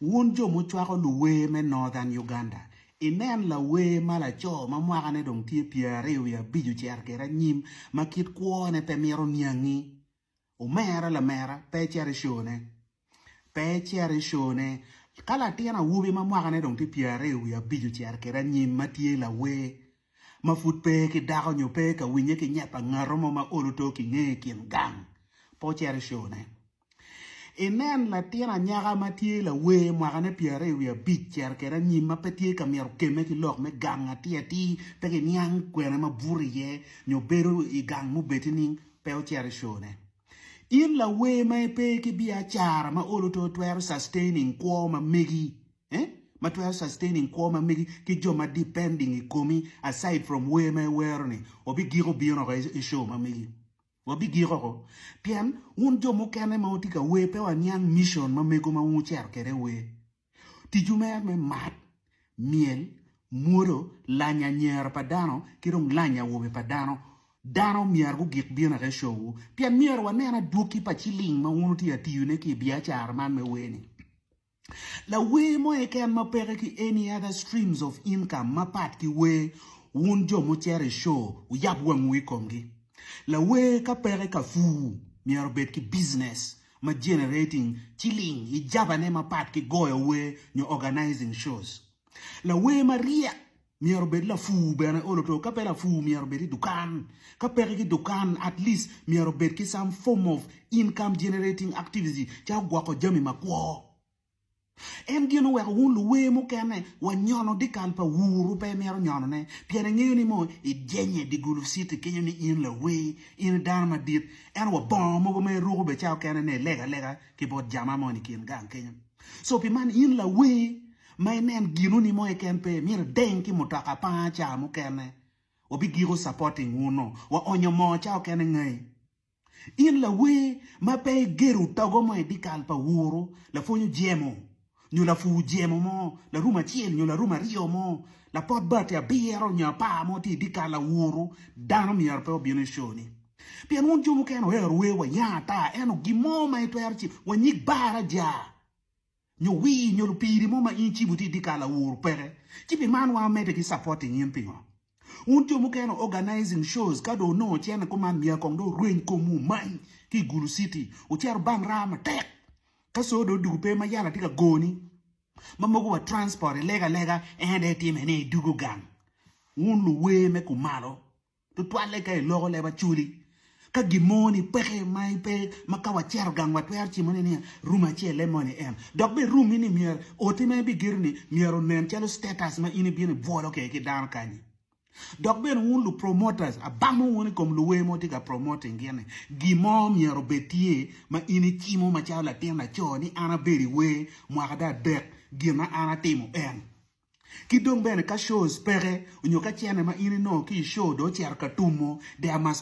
Wun jo mucwako luwer me Northern Uganda, inen lawer ma laco ma mwakane dong tye pyeraryo wiye abic ocito kwede anyim ma kit kwone pe mito niangi. Omera lamera, pe icit i show ne. Pe icit i show ne. Ka latin awobi ma mwakane dong tye pyeraryo wiye abic ocito kwede anyim ma tye lawer ma pud pe ki dako nyo pe ka winye ki nyep pa ngato mo ma olo to ki nge i kin gang, pe ocit i show ne. Inen latin anyaka ma tye lawer mwakane pyeraryo wiye abic cito kwede anyim ma pe tye ka myero okemme ki lok me gang atir atir pe kiniang kwene ma buto iye nyo bedo i gang mubed nining pe ocito i show ne. In lawer ma ipe ki biacara ma olo to twero sustaining kwo ma megi eh ma twero sustaining kwo ma megi ki jo ma depending i komi aside from wer ma iwero ni obigiko bino oko i show ma megi. Wabigik oko, pien wun jo mukene ma wutye ka wer pe waniang micon ma mego ma wucito kwede i wer. Ticwu mere me mat, myel, mwodo, lanyo anyera pa dano, ki dong lanyo awobe pa dano, dano myero gugik bino eka i cowwu, pien myero wanen adwoki pa ciling ma wun wutye ka tiyone ki i biacara man me wer-ni. Lawer mo eken ma peke ki any other streams of income mapat ki wer, wun jo mucito i show wuyab wang wu i komgi. Lawer ka peke ka pur myero obed ki business ma generating ciling i jabane mapat ki goyo wer nyo organizing shows. Lawer maryek Myero obed lapur bene olo to ka pe lapur myero obed i dukan ka peke ki dukan at least myero obed ki some form of income generating activity calo gwoko jami ma kwo. En gin oweko wun luwer mukene wa nyono dikal pa wur wu pe imito nyono ne pien ingeyo ni mo i jenye di gulu city kenyo ni in lawer in i dano madit ento wa bongo mogo ma iruko be calo kene ne ilega lega ki bot jama mo ni kin gang kenyo so pi man in lawer Ma inen ginu ni moe ken pe myero ideng ki mutoka panga ca mukene wabigiko supporting wunu wa onyo moo ca okene ngai. In lawer ma pe igedo togo mo idikal pa wuru lapwonyo jemo nyo lapur jemo mo larum acel nyo larum aryo mo lapot bati abiro nyo apar mo tye idikal awuru dano myero pe obinu i show ni pien wun jo mukene oero wer wayang ata eno gin mo ma itwero ci wanyig baraja. nyo wii nyo lupiri mo ma in icibo tye idikal awur peke ci pi man wango mede ki supporting in pingo wun jo mukene organizing shows ka dong onongo ocito ni kuman myero kong dong orweny kom wu omany ki igulu city wucito bang raa matek ka co dong odugu pe ma yala tye ka goni ma mogo wa transport ilego alega en aye itime ni idugu gang wun luwer me kumalo. tutwalle ka iloko leb Acholi. Ka gin mo ni peke ma ipe ma ka wacero gang watwero cimone niya room acelle moni en. Dok bene room ni myero oti ma ibigedo ni myero onen calo status ma in ibino ibwolo kede ki dano kanyi. Dok bene wun lu promoters abamo wun ikom luwer ma wutye ka promoting gin ni gin mo myero obed tye ma in icimo macalo latin laco ni an abedo iwer mwaka adek gin ma an atimo en. Ki dong bene ka shows peke onyo ka cene ma in inongo ki i show dong ocito ka tumo, there must be a.